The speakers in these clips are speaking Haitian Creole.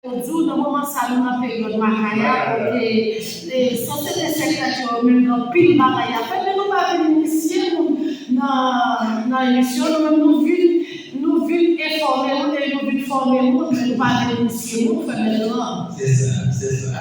Yo di w nan moman sa nou nan peryòd Makaya kote sosyete sèkretè yo menm gen anpil bagay y ap fè men nou pa vin inisye moun nan emisyon nou menm nou vin nou vin enfòme moun epi nou vin fòme moun men nou pa vin inisye moun fè mèt lan. Se sa, se sa.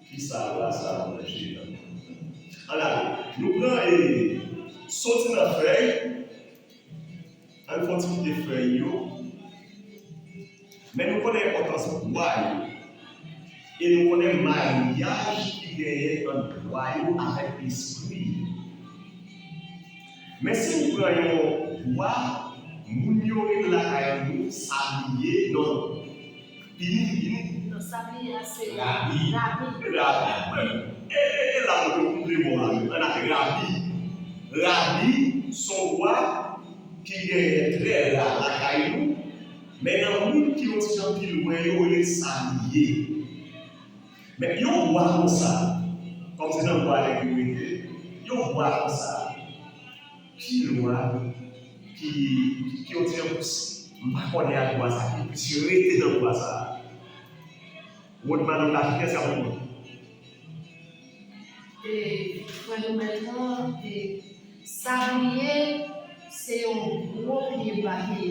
Kisa pla sa ap manje nan menm. An ale Nou pran e soti nan fèy Ann fon ti kite fèy yo Men nou konnen enpòtans bwa yo E nou konnen maryaj ki genyen ant bwa yo avèk espri yo Men si nou pran yon bwa Moun yo ret lakay nou sabliye non Nan sa m ye a se Rabi. Rabi. E la mwen te koupe mo a. An ale, Rabi. Rabi s on vwa ki genyen trè ra lakay nou, men nan moun ki yon ti jan pi lwen yo rele l sa li ye. Men yon vwa konsa, kòm se nan vwa nèg yo rete, yon vwa konsa. Ki lwa ki ki yon ti anplis. M pa kònen ak lwa sa ki plis rete nan lwa sa a. Wòd madanm la ki eske ap reponn. E frè Nomel nan e Sabliye se yon gwo pye bahe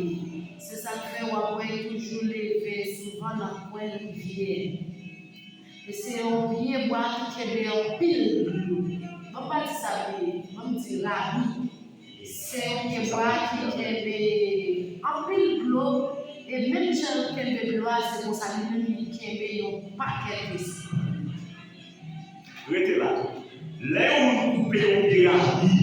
se sak fè wap wè li toujou leve souvan nan kwen rivyè. Li se yon pye bwa ki kenbe anpil dlo. Banm pa di sa vle di, banm di rabi. Li se yon pye bwa ki kenbe anpil dlo e menm jan l kenbe dlo a se konsa li menm li kenbe yon pakèt espri. Rete la. Lè yon moun koupe yon pye rabi.